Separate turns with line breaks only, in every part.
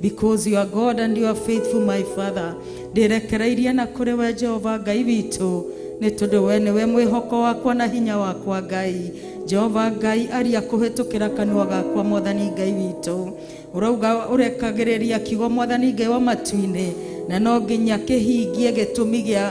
Because you are God and you are faithful, my Father. Ndirekereirie na kũrĩ we Jehova Ngai witũ, nĩ tondũ we nĩwe mwĩhoko wakwa na hinya wakwa Ngai. Jehova Ngai aria kũhĩtũkĩra kanua gakwa Mwathani Ngai witũ. Ũrauga ũrekagĩrĩria kiugo Mwathani Ngai wa matu-inĩ, na no nginya kĩhingie gĩtũmi gĩa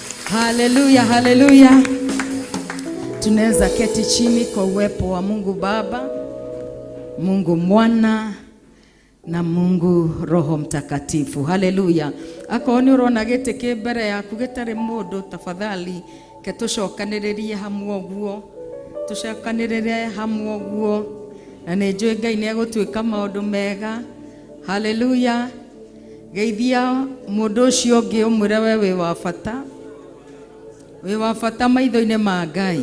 Haleluya, haleluya. Tunaweza keti chini kwa uwepo wa Mungu Baba, Mungu Mwana na Mungu Roho Mtakatifu. Haleluya. Akorwo nĩ ũrona gĩtĩ kĩ mbere yaku gĩtarĩ mũndũ, tafadhali ke tũcokanĩrĩrie hamwe ũguo, tũcokanĩrĩrie hamwe ũguo, na nĩ njũĩ Ngai nĩ egũtwĩka maũndũ mega. Haleluya. geithia mũndũ ũcio ũngĩ ũmwĩre we wĩ wa bata wĩ wa bata maitho-inĩ ma ngai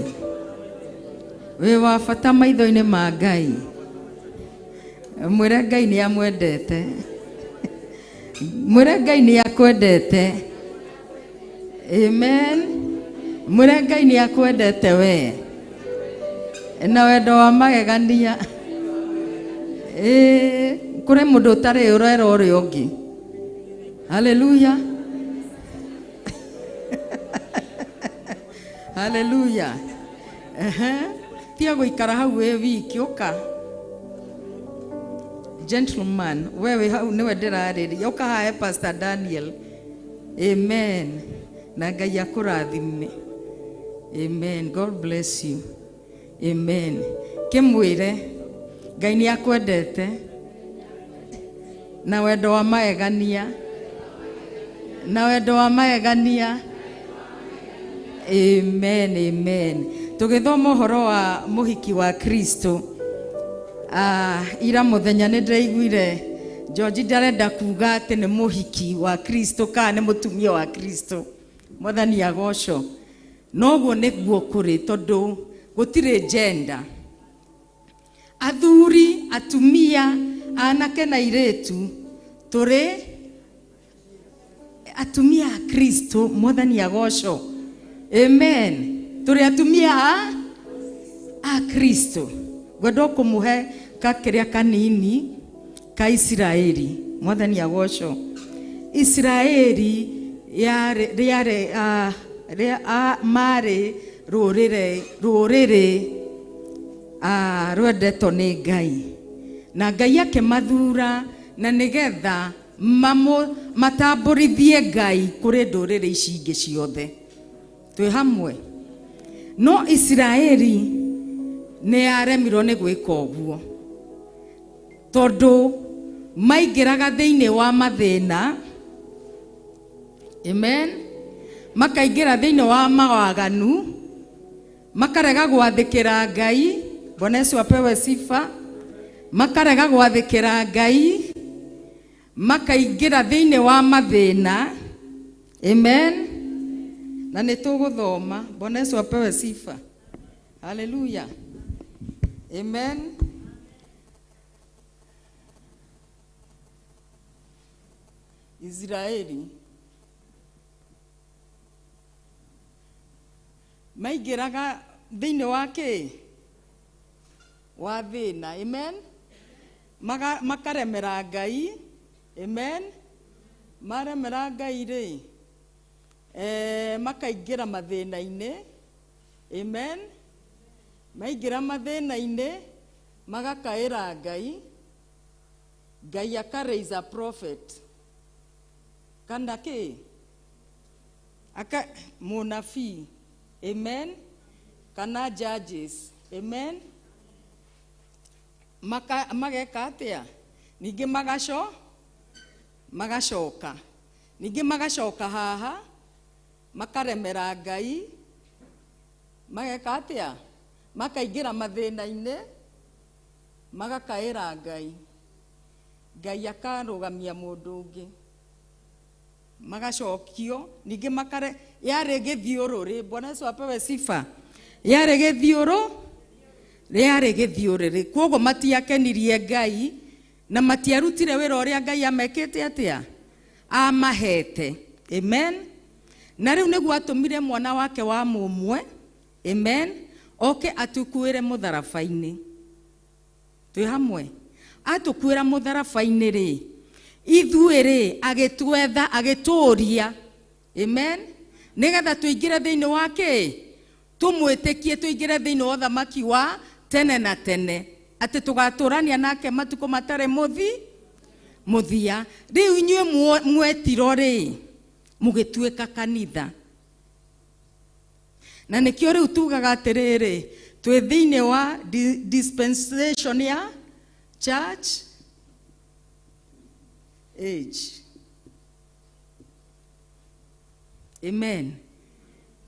wĩ wa bata maitho-inĩ ma ngai mwĩre ngai nĩ amwendete mwĩre ngai nĩ akwendete amen mwĩre ngai nĩ akwendete wee na wendo wa magegania Ee, kũrĩ mũndũ ũtarĩ ũrera ũrĩa ũngĩ haleluya haleluya Ehe. tiga gũikara hau wĩ wiki ũka gentleman wewe hau nĩwe ndĩrarĩria ũka hae pastor daniel Amen. Na Ngai akũrathime. Amen. God bless you. Amen. Kĩmwĩre Ngai nĩ akwendete na wendo wa magegania na wendo wa magegania amen amen tũgĩthoma ũhoro wa mũhiki wa kristo ah, ira mũthenya nĩ ndĩraiguire George ndarenda kuga atĩ nĩ mũhiki wa Kristo kana nĩ mũtumia wa Kristo. Mwathani agoco. Noguo nĩguo kũrĩ tondũ gũtirĩ gender. Athuri, atumia, anake na irĩtu tũrĩ atumia a kristo mwathani agocwo amen tũrĩ atumia a a kristo ngwenda o kũmũhe ka kĩrĩa kanini ka isiraeli mwathani agocwo isiraeli yarĩ- rĩarĩ ah, rĩa- ah, marĩ rũrĩrĩ rũrĩrĩ ah, rwendetwo nĩ ngai na ngai akĩmathura na nĩgetha Mamũ, matambũrithie Ngai kũrĩ ndũrĩrĩ ici ingĩ ciothe. Twĩ hamwe? No Isiraeli nĩ yaremirwo nĩ gwĩka ũguo, tondũ maingĩraga thĩinĩ wa mathĩna, amen, makaingĩra thĩinĩ wa mawaganu, makarega gwathĩkĩra ngai bwana yesu apewe sifa makarega gwathĩkĩra ngai makaingĩra thĩinĩ wa mathĩna amen na nĩ tũgũthoma bwana yesu apewe sifa haleluya amen israeli maingĩraga thĩinĩ wa kĩĩ wa thĩna amen Maga, makaremera ngai amen maremera ngai rĩ eh, makaingĩra mathĩna-inĩ amen maingĩra mathĩna-inĩ magakaĩra ngai ngai aka raise a prophet kana kĩĩ aka mũnabii amen kana judges amen Maka, mageka atĩa ningĩ magaco magacoka ningĩ magacoka haha makaremera ngai mageka atĩa makaingĩra mathĩna-inĩ magakaĩra ngai ngai akarũgamia mũndũ ũngĩ magacokio ningĩ makare yarĩ gĩthiũrũ rĩ bwana yesu apewe sifa yarĩ gĩthiũrũ rĩarĩ gĩthiũrĩ rĩ kwoguo matiakenirie ngai na matiarutire wĩra ũrĩa ngai amekĩte atĩa amahete amen na rĩu nĩguo atũmire mwana wake wa mũmwe amen oke atukuĩre mũtharaba-inĩ twĩ hamwe atũkuĩra mũtharabainĩ rĩ ithuĩ rĩ agĩtwetha agĩtũria amen nĩgetha tũingĩre thĩinĩ wa kĩ tũmwĩtĩkie tũingĩre thĩinĩ wa ũthamaki wa tene na tene atĩ tũgatũrania nake matukũ matarĩ mũthi mũthia rĩu inyuĩ mwo- mwetiro rĩ mũgĩtuĩka kanitha na nĩkĩo rĩu tugaga atĩrĩrĩ twĩ thĩinĩ wa di- dispensation ya church age amen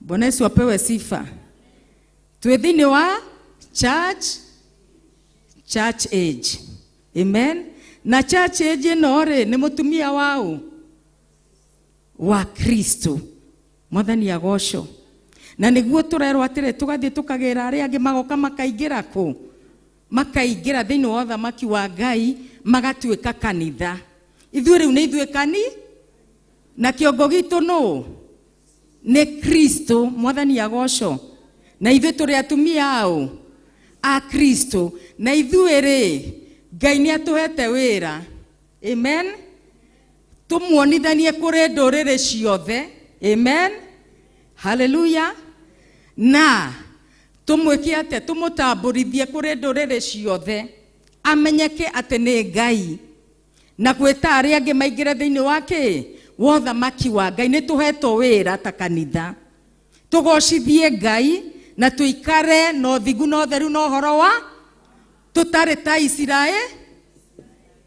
bwana yesu apewe sifa twĩ thĩinĩ wa church church age amen na church age ĩno rĩ nĩ mũtumia wa ũ wa kristo mwathani agocwo na nĩguo tũrerwo atĩrĩ tũgathiĩ tũkagĩra arĩa angĩ magoka makaingĩra kũ makaingĩra thĩinĩ wa ũthamaki wa ngai magatuĩka kanitha ithuĩ rĩu nĩ ithuĩ kani na kĩongo gitũ nũ nĩ kristo mwathani agocwo na ithuĩ tũrĩ atumia aũ a kristo na ithuĩ rĩ ngai nĩ atũhete wĩra amen tũmuonithanie kũrĩ ndũrĩrĩ ciothe amen haleluya na tũmwĩke atĩa tũmũtambũrithie kũrĩ ndũrĩrĩ ciothe amenyeke atĩ nĩ ngai na gwĩta arĩa angĩ maingĩre thĩinĩ wa kĩ wa ũthamaki wa ngai nĩ tũhetwo wĩra ta kanitha tũgocithie ngai na tũikare na ũthingu na ũtheru na ũhoro wa tũtarĩ ta isiraeli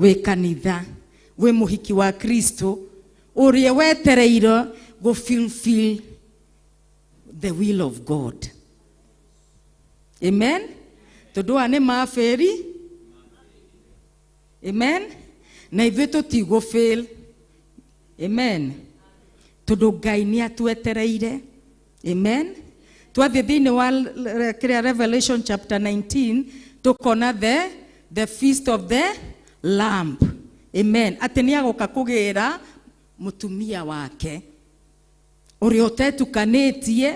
wĩ kanitha wĩ mũhiki wa kristo ũrĩa wetereirwo gũ fulfill the will of god amen tondũ aya nĩ mabĩri amen na ithuĩ tũtigũ fail amen tondũ ngai nĩ atwetereire amen twathiĩ thĩinĩ wa l- l- kĩrĩa revelation chapter 19 tũkona the the feast of the lamp amen atĩ nĩ agoka kũgĩra mũtumia wake ũrĩa ũtetukanĩtie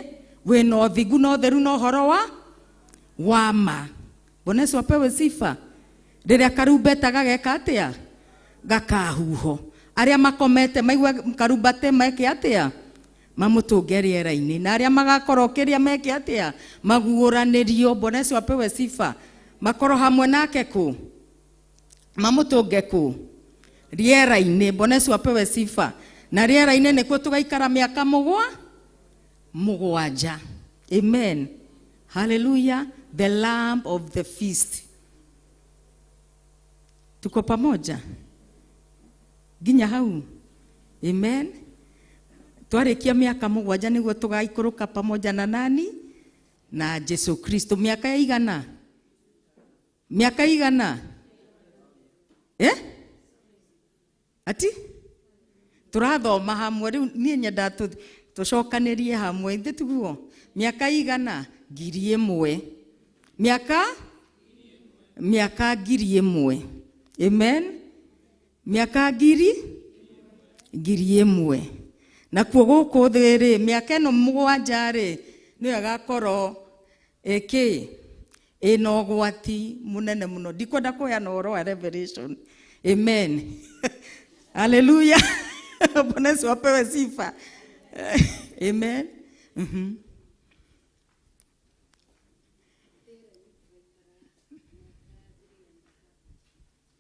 wĩna ũthingu na ũtheru na ũhoro wa wa ma bwana yesu apewe sifa rĩrĩa karumbeta gageka atĩa gakahuho arĩa makomete maigua karumbate meke atĩa mamũtũnge rĩera-inĩ na arĩa magakorwo kĩrĩa meke atĩa maguũranĩrio bwana yesu apewe sifa makorwo hamwe nake kũ mamũtũnge kũ rĩera-inĩ bwana yesu apewe sifa na rĩera-inĩ nĩkuo tũgaikara mĩaka mũgwa mũgwanja amen haleluya the lamb of the feast tuko pamoja nginya hau amen twarĩkia mĩaka mũgwanja nĩguo tũgaikũrũka pamoja na nani na jesu kristo mĩaka ya igana mĩaka igana eh? ati tũrathoma hamwe rĩu niĩ nyenda tũ- tũcokanĩrie hamwe ithe tiguo mĩaka igana ngiri ĩmwe mĩaka mĩaka ngiri ĩmwe amen mĩaka ngiri ngiri ĩmwe nakuo gũkũ thĩ-rĩ mĩaka ĩno mũgwanja-rĩ nĩyo ĩgakorwo ĩkĩ ĩna ũgwati mũnene mũno ndikwenda kũheana ũhoro wa revelation amen haleluya bwana yesu apewe sifa amen Mhm.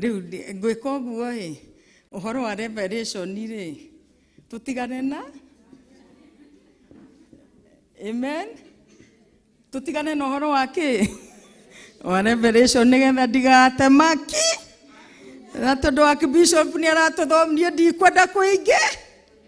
rĩu ndĩ- ngwĩka ũguo ĩ ũhoro wa revelation rĩ tũtigane na amen tũtigane na ũhoro wa kĩ wa revelation nĩgetha ndigate maki na tondũ wa bishop nĩ aratũthomithia ndikwenda kũingĩ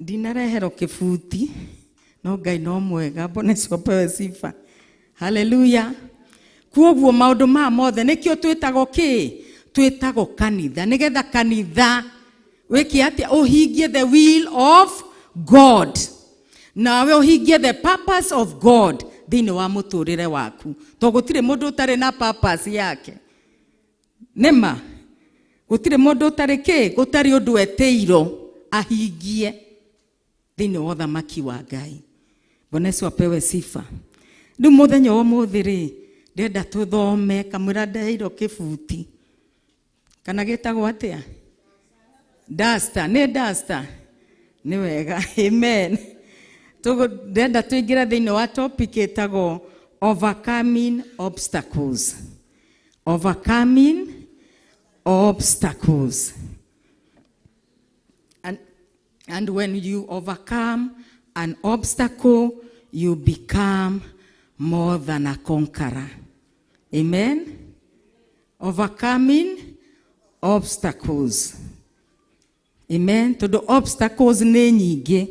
ndinareherwo kibuti no ngai no mwega mboneco mbewe sifa haleluya kuoguo maundu maya mothe nikio twitagwo ki twitagwo kanitha nigetha kanitha wiki atia uhingie the will of god nawe uhingie the purpose of god thiini wa muturire waku to gutire mundu utari na purpose yake nĩma gũtirĩ mũndũ ũtarĩ kĩ gũtarĩ ũndũ etĩirwo ahingie thĩinĩ wa ũthamaki wa ngai bwana yesu apewe sifa rĩu mũthenya wa ũmũthĩ rĩ ndĩrenda tũthome kamwĩra ndairwo kĩbuti kana gĩtagwo atĩa dasta nĩ dasta nĩ wega amen Tũgũ- ndĩrenda tũingĩre thĩinĩ wa topic ĩtagwo overcoming obstacles Overcoming obstacles. And, and when you overcome an obstacle, you become more than a conqueror. Amen? Overcoming obstacles. Amen. Tondũ obstacles nĩ nyingĩ.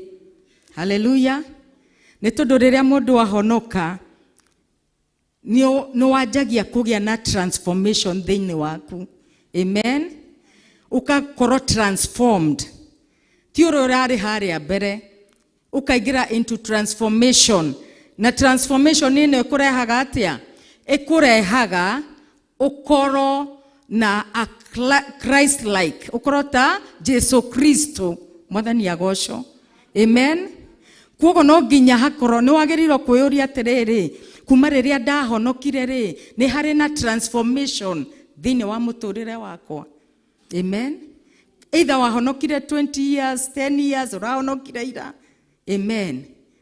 Hallelujah. Nĩ tondũ rĩrĩa mũndũ ahonoka, nĩ nĩ wanjagia kũgĩa na transformation thĩinĩ waku amen ũgakorwo transformed ti ũrĩa ũrarĩ harĩa mbere ũkaingĩra into transformation na transformation ĩno ĩkũrehaga atĩa ĩkũrehaga ukorwo na a Chri- christ like ukorwo ta jesu kristo mwathani agocwo amen kuogo no nginya hakorwo nĩ wagĩrĩirwo kwĩyũria atĩrĩrĩ kuma rĩrĩa ndahonokire rĩ nĩ harĩ na transformation thĩinĩ wa mũtũrĩre wakwa amen either wahonokire 20 years 10 years ũrahonokire ira amen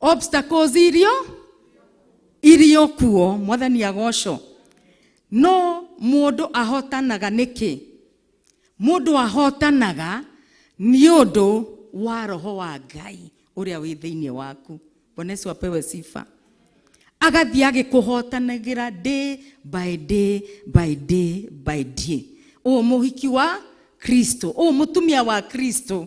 obstacles irio irio kuo mwathani agoco no mũndũ ahotanaga nĩkĩ mũndũ ahotanaga nĩ ũndũ wa roho wa ngai ũrĩa wĩ thĩinĩ waku bwana yesu apewe sifa agathiĩ agĩkũhotanagĩra day by day by day by day ũũ mũhiki wa kristo ũũ mũtumia wa kristo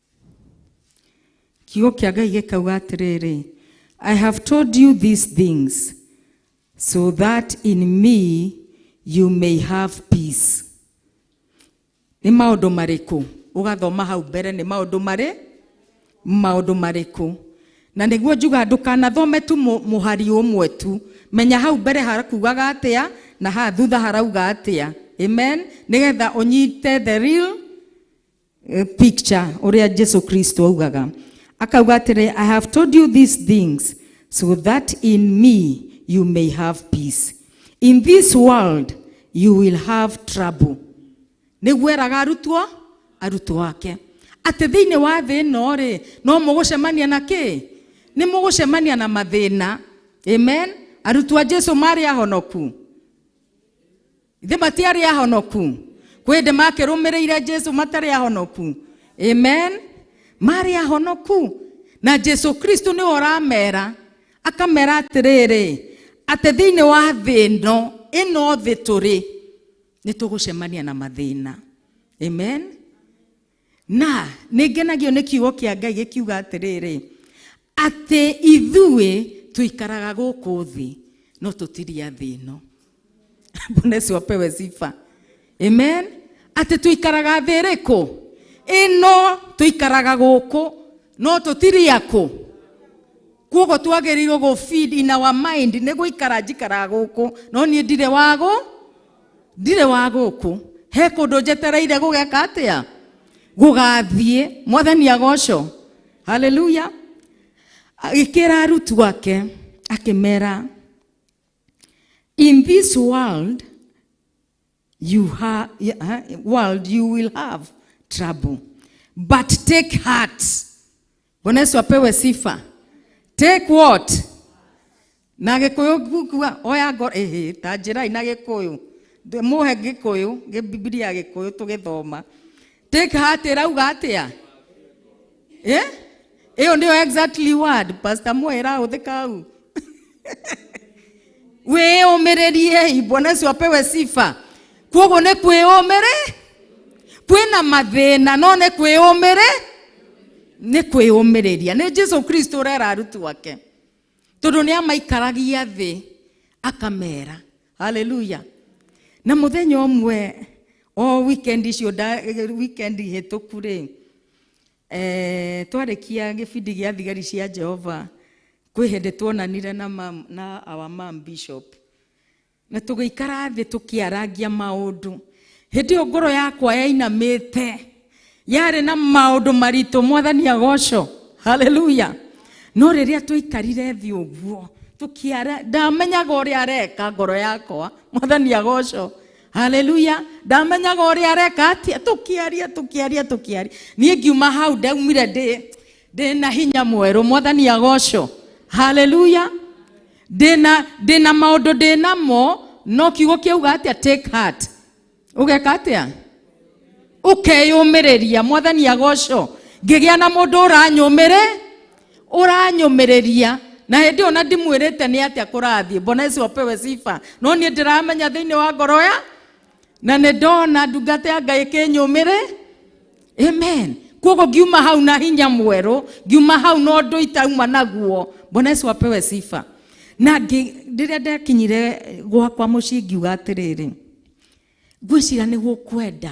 kiugo kĩa ngai gĩkauga atĩrĩrĩ i have told you these things so that in me you may have peace nĩ maũndũ marĩkũ ũgathoma hau mbere nĩ maũndũ marĩ maũndũ marĩkũ na nĩguo njuga ndũkanathome tu mũ- mũhari ũmwe tu menya hau mbere harakugaga atĩa na haha thutha harauga atĩa amen nĩgetha ũnyite the real eh, picture ũrĩa Jesu Kristo augaga akauga atĩrĩ I have told you these things so that in me you may have peace in this world you will have trouble nĩguo eraga arutwo arutwo ake atĩ thĩinĩ wa thĩ ĩno rĩ no mũgũcemania na kĩ nĩ mũgũcemania na mathĩna amen arutwo a jesu marĩ ahonoku ithe matiarĩ ahonoku kwĩ hĩndĩ makĩrũmĩrĩire jesu matarĩ ahonoku amen marĩ ahonoku na jesu kristo nĩwe ũramera akamera atĩrĩrĩ atĩ thĩinĩ wa thĩ ĩno ĩno thĩ tũrĩ nĩ tũgũcemania na mathĩna amen na nĩ ngenagio nĩ kiugo kĩa ngai gĩkiuga atĩrĩrĩ atĩ ithuĩ tũikaraga gũkũ thĩ no tũtiria thĩ ĩno bwana yesu apewe sifa amen atĩ tũikaraga thĩ ĩrĩkũ ĩno tũikaraga gũkũ no tũtiria kũ kuogo twagĩrĩirwo gũ feed in our mind nĩ gũikara njikaraga gũkũ no niĩ ndirĩ wagũ ndirĩ wa gũkũ he kũndũ njetereire gũgeka atĩa gũgathiĩ mwathani agoco haleluya agĩkĩra arutu ake akĩmera in this world you ha, ha- world you will have trouble but take heart Bwana Yesu apewe sifa. Take what? Na gikuyu kuga oya ngoro ehe ta njirai na gikuyu. Ndĩ- Mũhe gikuyu, gĩ- Biblia gikuyu tũgĩthoma. Take heart ĩrauga atĩa? Eh? Ĩyo nĩyo exactly word Pastor Moya ĩrahũthĩka hau. wĩyũmĩrĩriei bwana ũcio apewe sifa kwoguo nĩ kwĩyũmĩrĩ kwĩna mathĩna no nĩ kwĩyũmĩrĩ nĩ kwĩyũmĩrĩria nĩ jesu kristo ũrera arutwo ake tondũ nĩ amaikaragia thĩ akamera haleluya na mũthenya ũmwe o wikendi icio nda- wikendi hĩtũku rĩ Eh, twarĩkia gĩbindi gĩa thigari cia jehova kwĩ hĩndĩ tuonanire na, mam, na our mam bishop na tũgĩikara thĩ tũkĩarangia maũndũ hĩndĩ ĩyo ngoro yakwa yainamĩte yarĩ na maũndũ maritũ mwathani agoco haleluya no rĩrĩa twaikarire thĩ ũguo tũkĩara ndamenyaga ũrĩa areka ngoro yakwa mwathani agoco haleluya ndamenyaga ũrĩa areka atia tũkĩaria tũkĩaria tũkĩaria niĩ ngiuma hau ndaumire ndĩ ndĩ na hinya mwerũ mwathani agocwo haleluya ndĩ na ndĩ na maũndũ ndĩ namo no kiugo kĩauga atĩa take heart ũgeka atĩa ũkeyũmĩrĩria mwathani agocwo ngĩgĩa na mũndũ ũranyũmĩrĩ ũranyũmĩrĩria na hĩndĩ ĩyo na ndimwĩrĩte nĩ atĩa kũrathiĩ mbona yesu apewe sifa no niĩ ndĩramenya thĩinĩ wa ngoro ya na nĩ ndona ndungata ya ngai kĩnyũmĩrĩ amen koguo ngiuma hau na hinya mwerũ ngiuma hau na ũndũ itauma naguo mbona yesu apewe sifa na ngĩ- rĩrĩa ndekinyire gwakwa mũciĩ ngiuga atĩrĩrĩ ngwĩcira nĩ gũkwenda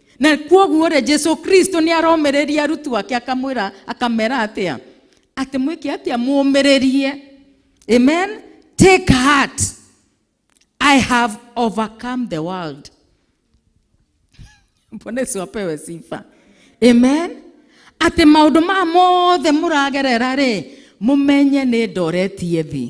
na kwoguo rĩ jesu kristo nĩ aromereria arutwo ake akamwĩra akamera atĩa atĩ mwĩke atĩa mũmĩrĩrie amen take heart i have overcome the world mbona icio apewe sifa amen atĩ maũndũ maya mothe mũragerera rĩ mũmenye nĩ ndoretie thĩ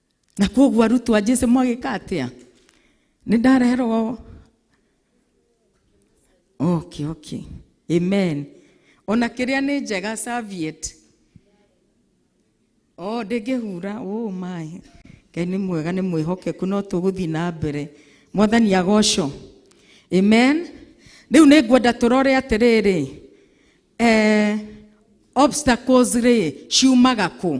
na koguo arutwo a jesu mwagĩka atĩa nĩ ndareherwo okay okay amen ona kĩrĩa nĩ njega serviette o ndĩngĩhura oh my ngai nĩ mwega nĩ mwĩhokeku no tũgũthiĩ na mbere mwathani agoco amen rĩu nĩ ngwenda tũrore atĩrĩrĩ eh, obstacles rĩ ciumaga kũ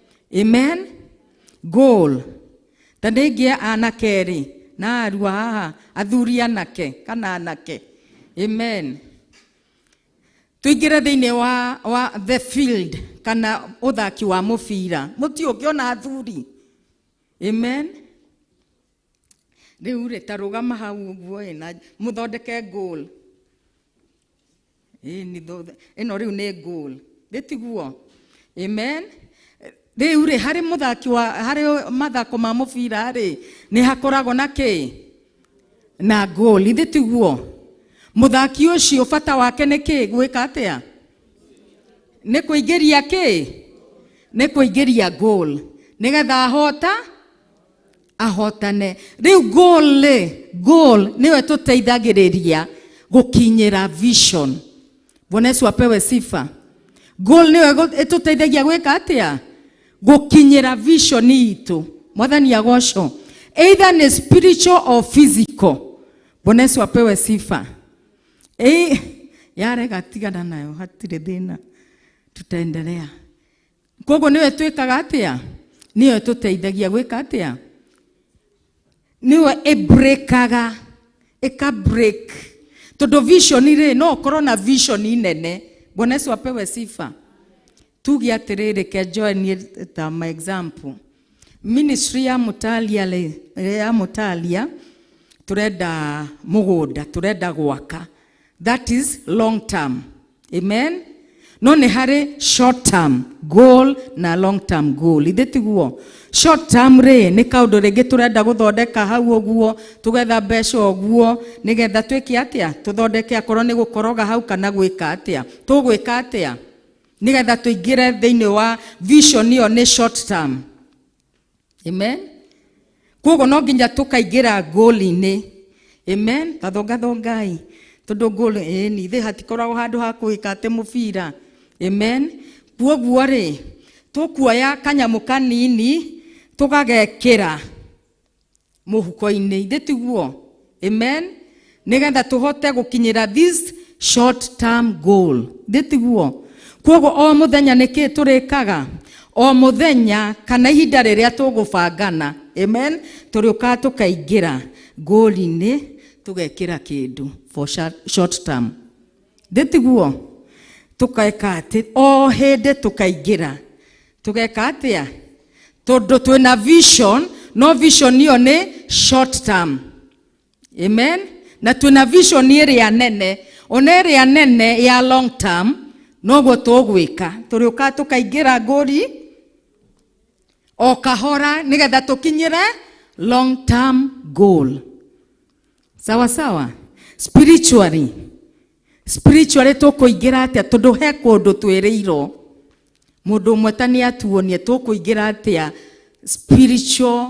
amen goal ta ndĩngĩ anake rĩ na arua haha athuri anake kana anake amen tuingire thĩinĩ wa, wa the field kana ũthaki wa mũbira mũti ũngĩona athuri amen rĩu rĩ ta rũgama hau ũguo ĩ na mũthondeke goal Ĩni thutha- ĩno rĩu nĩ goal rĩ tiguo amen rĩu rĩ harĩ mũthaki wa harĩ mathako ma mũbira rĩ nĩ hakoragwo na kĩ na goal ithĩ tiguo mũthaki ũcio bata wake nĩ kĩ gwĩka atĩa nĩ kũingĩria kĩ nĩ kũingĩria goal nĩgetha ahota ahotane rĩu goal rĩ goal nĩyo ĩtũteithagĩrĩria gũkinyĩra vision bwana yesu apewe sifa goal nĩyo ĩgũ- ĩtũteithagia gwĩka atĩa gũkinyĩra vision itũ mwathani agocwo either nĩ spiritual or physical bwana yesu apewe sifa Ei, yarega tigana nayo hatirĩ thĩna tutaendelea koguo nĩwe twĩkaga atĩa nĩyo ĩtũteithagia gwĩka atĩa nĩwe ĩbrĩkaga ĩka break tondũ vision rĩ no ũkorwo na vision nene bwana yesu apewe sifa tuge atĩrĩrĩ kenjoe niĩ ta ma example Ministry ya Mũtalia rĩ, ĩrĩa ya Mũtalia tũrenda mũgũnda, tũrenda gwaka. That is long term. Amen. No nĩ harĩ short term goal na long term goal. Ithĩ tiguo? Short term rĩ nĩ kaũndũ rĩngĩ tũrenda gũthondeka hau ũguo, tũgetha mbeca ũguo, nĩgetha twĩke atĩa? Tũthondeke akorwo nĩ gũkoroga hau kana gwĩka atĩa? Tũgwĩka atĩa? nigetha tuingire thiini wa vision iyo ni short term amen koguo no nginya tukaingira ngũli-inĩ amen tathongathongai tondu ngũli ĩni thĩ hatikoragwo handũ ha kũhĩka atĩ mũbira amen kuoguo rĩ tũkuoya kanyamũ kanini tũgagekĩra mũhuko-inĩ ithĩ tiguo amen nĩgetha tũhote gũkinyĩra this short term goal ithĩ tiguo kwoguo o mũthenya nĩkĩ tũrĩkaga o mũthenya kana ihinda rĩrĩa tũgũbangana amen tũrĩũkaga tũkaingĩra ngũri-inĩ tũgekĩra kĩndũ for short- short term ithĩ tiguo tũkaeka atĩ o hĩndĩ tũkaingĩra tũgeka atĩa tondũ twĩna vision no vision ĩyo nĩ short term amen na twĩna vision ĩrĩa nene ona ĩrĩa nene ya long term noguo tũgwĩka tũrĩũka tũkaingĩra ngũri o kahora nĩgetha tũkinyĩre long term goal sawa sawa spiritually spiritually tũkũingĩra atĩa tondũ he kũndũ twĩrĩirwo mũndũ ũmwe ta nĩ atuonie tũkũingĩra atĩa spiritual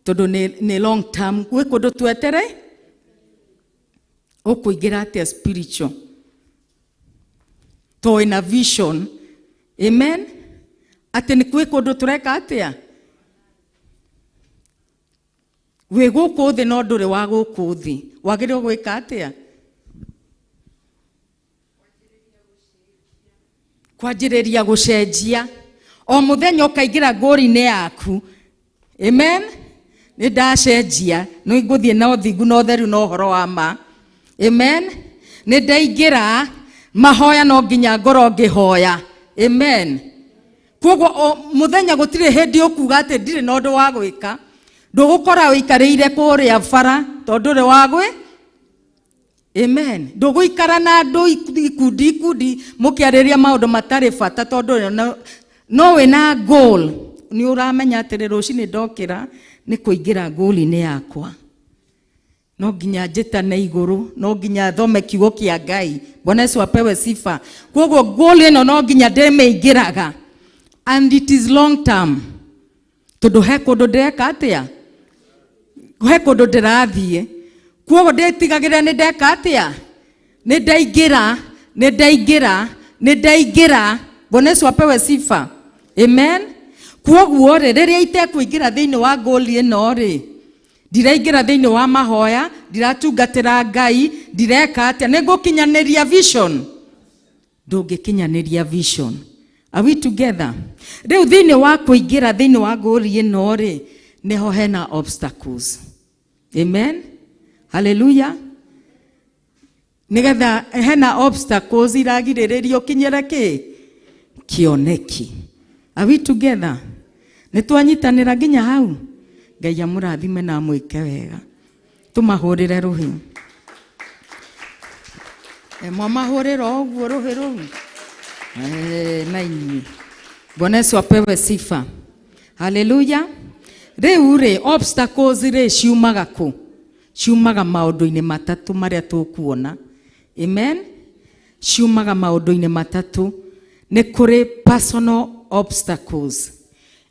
tondũ nĩ, nĩ long term gwĩ kũndũ twetere ũkũingĩra atĩa spiritual to ĩna vision amen atĩ nĩ kwĩ kũndũ tũreka atĩa wĩ gũkũ thĩ no ndũrĩ wa gũkũ thĩ wagĩrĩirwo gwĩka atĩa kwanjĩrĩria gũcenjia o mũthenya ũkaingĩra ngũri-inĩ yaku amen nĩ ndacenjia nĩ ngũthiĩ na ũthingu na ũtheru na ũhoro wa ma amen nĩ ndaingĩra mahoya no nginya ngorwo ngĩhoya amen koguo o muthenya gutire hindi ukuga ati ndire na undu wa gwika ndugukora wikarire kuria bara tondu ri wa gwi amen nduguikara na andu iku- ikundi ikundi mukiariria maundu matari bata tondu ri- no- no wi na goal ni uramenya atiri rucini ndokira ni kuingira goal-ini yakwa no nginya njĩtane igũrũ no nginya thome kiugo kĩa ngai bwana yesu apewe sifa kwoguo ngũlĩ ĩno no nginya ndĩmĩingĩraga and it is long term tondũ he kũndũ ndĩreka atĩa he kũndũ ndĩrathiĩ kwoguo ndĩtigagĩrĩra nĩ ndeka atĩa nĩ ndaingĩra nĩ ndaingĩra nĩ ndaingĩra bwana yesu apewe sifa amen kwoguo rĩ rĩrĩa itekũingĩra thĩinĩ wa ngũli ĩno rĩ ndiraingĩra thĩinĩ wa mahoya ndiratungatĩra ngai ndireka atĩa nĩ ngũkinyanĩria vision ndũngĩkinyanĩria vision Are we together rĩu thĩinĩ wa kũingĩra thĩinĩ wa ngũri ĩno rĩ nĩho hena obstacles amen haleluya nigetha hena obstacles iragirĩrĩria ũkinyĩre kĩ kĩoneki are we together nĩ twanyitanĩra nginya hau ngai amũrathime na amwĩke wega tũmahũrĩre rũhĩ Eh, mwamahũrĩra ũguo rũhĩ rũu Eh, na inyuĩ bwana yesu apewe sifa haleluya rĩu rĩ obstacles rĩ ciumaga kũ ciumaga maũndũ-inĩ matatũ marĩa tũkuona amen ciumaga maũndũ-inĩ matatũ nĩ kũrĩ personal obstacles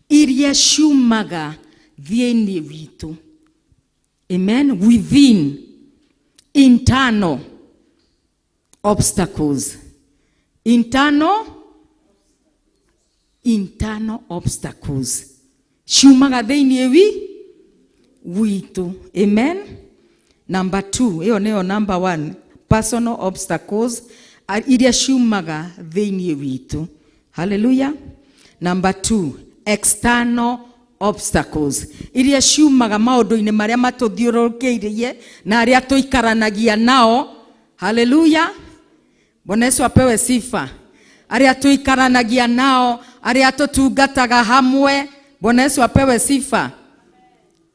iria ciumaga thĩinĩ witũ amen within internal obstacles internal internal obstacles ciumaga thĩinĩ wi witũ amen number two ĩyo nĩyo number one personal obstacles a- iria ciumaga thĩinĩ witũ haleluya namba 2 external obstacles iria ciumaga maũndũ-inĩ marĩa matũthiũrũrũkĩirie na arĩa tũikaranagia nao haleluya bwana yesu apewe sifa arĩa tũikaranagia nao arĩa tũtungataga hamwe bwana yesu apewe sifa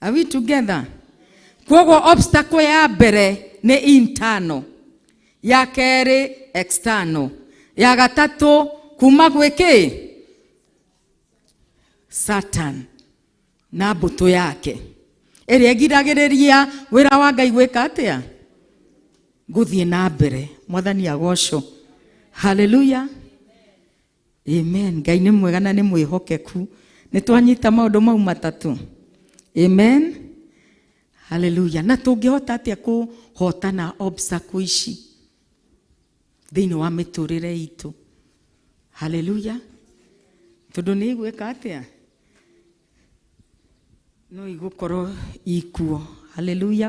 Are we together? Kwoguo obstacle ya mbere nĩ internal, ya kerĩ external, ya gatatũ kuma gwĩ kĩ Satan na mbũtũ yake ĩrĩa ĩgiragĩrĩria wĩra wa Ngai gwĩka atĩa? Gũthiĩ na mbere. Mwathani agocwo. Hallelujah. amen ngai nĩ mwega na nĩ mwĩhokeku nĩ twanyita maũndũ mau matatũ amen haleluya na tũngĩhota atĩa kũhotana obstacle ici thĩinĩ wa mĩtũrĩre itũ haleluya tondũ nĩ igwĩka atĩa no igũkorwo ikuo haleluya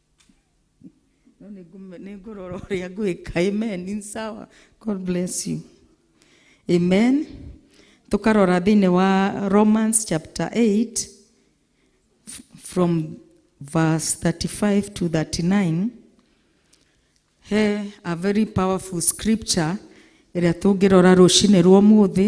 No nĩ ngũme- nĩ ngũrora ũrĩa ngwĩka amen ni sawa god bless you amen tũkarora thĩinĩ wa romans chapter 8 f- from verse 35 to 39 he a very powerful scripture ĩrĩa tũngĩrora rũcinĩ rwa ũmũthĩ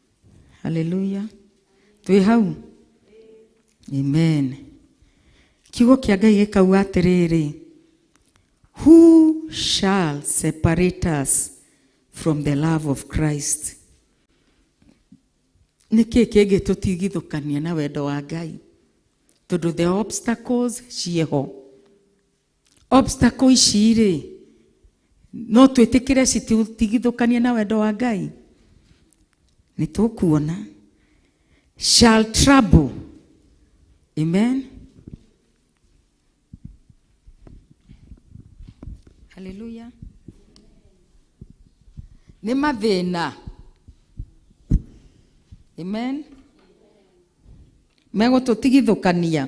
haleluya twĩ hau amen kiugo kĩa ngai gĩkauga atĩrĩrĩ who shall separate us from the love of christ nĩ kĩĩ kĩngĩtũtigithũkania na wendo wa ngai tondũ the obstacles ciĩho obstacle ici rĩ no twĩtĩkĩre citigithũkanie na wendo wa ngai nĩ tũkuona shall trouble amen haleluya nĩ mathĩna amen megũtũtigithũkania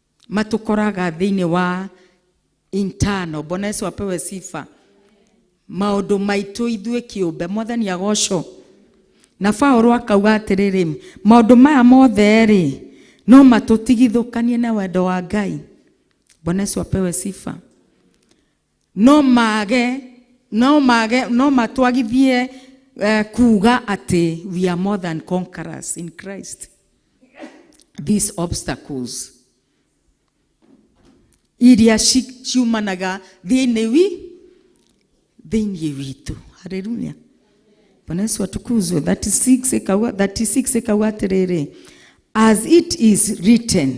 matũkoraga thĩinĩ wa internal bwana yesu apewe sifa maũndũ maitũ ithuĩ kĩũmbe mwathani agocwo na paulo akauga atĩrĩrĩ maũndũ maya mothe rĩ no matũtigithũkanie na wendo wa ngai bwana yesu apewe sifa no mage no mage no matwagithie uh, kuga atĩ we are more than conquerors in christ these obstacles iria ci- ciumanaga thĩinĩ wi thĩinĩ witũ haleluya bwana yesu atukuzwe 36 ikauga 36 ikauga atĩrĩrĩ as it is written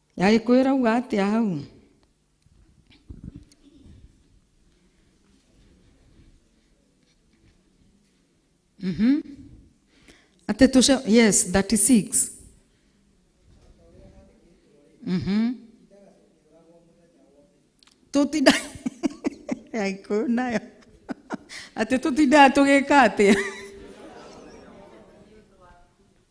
yagĩkũyũ ĩrauga atĩa hau Mhm. atĩ tũce yes 36 Mhm. tũtinda yagĩkũyũ nayo atĩ tũtindaga tũgĩka atĩa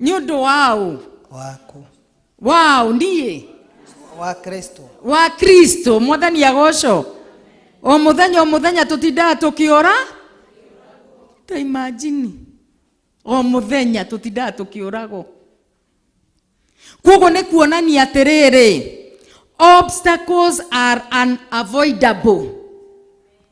nĩ ũndũ
waũ waku waũ niĩ wa kristo wa kristo mwathani agoco o mũthenya o mũthenya tũtindaga tũkĩũra ta imajini o mũthenya tũtindaga tũkĩũragwo kwoguo nĩ kuonania atĩrĩrĩ obstacles are unavoidable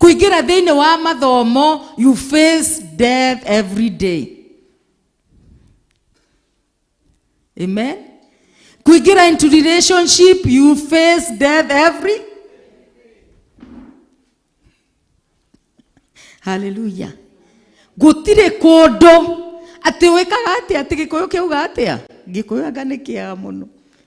kũingĩra thĩinĩ wa mathomo you face death every day amen kuingira into relationship you face death every haleluya gũtirĩ kũndũ atĩ wĩkaga atĩa atĩ gĩkũyũ kĩuga atĩa gĩkũyũ anga nĩ kĩega mũno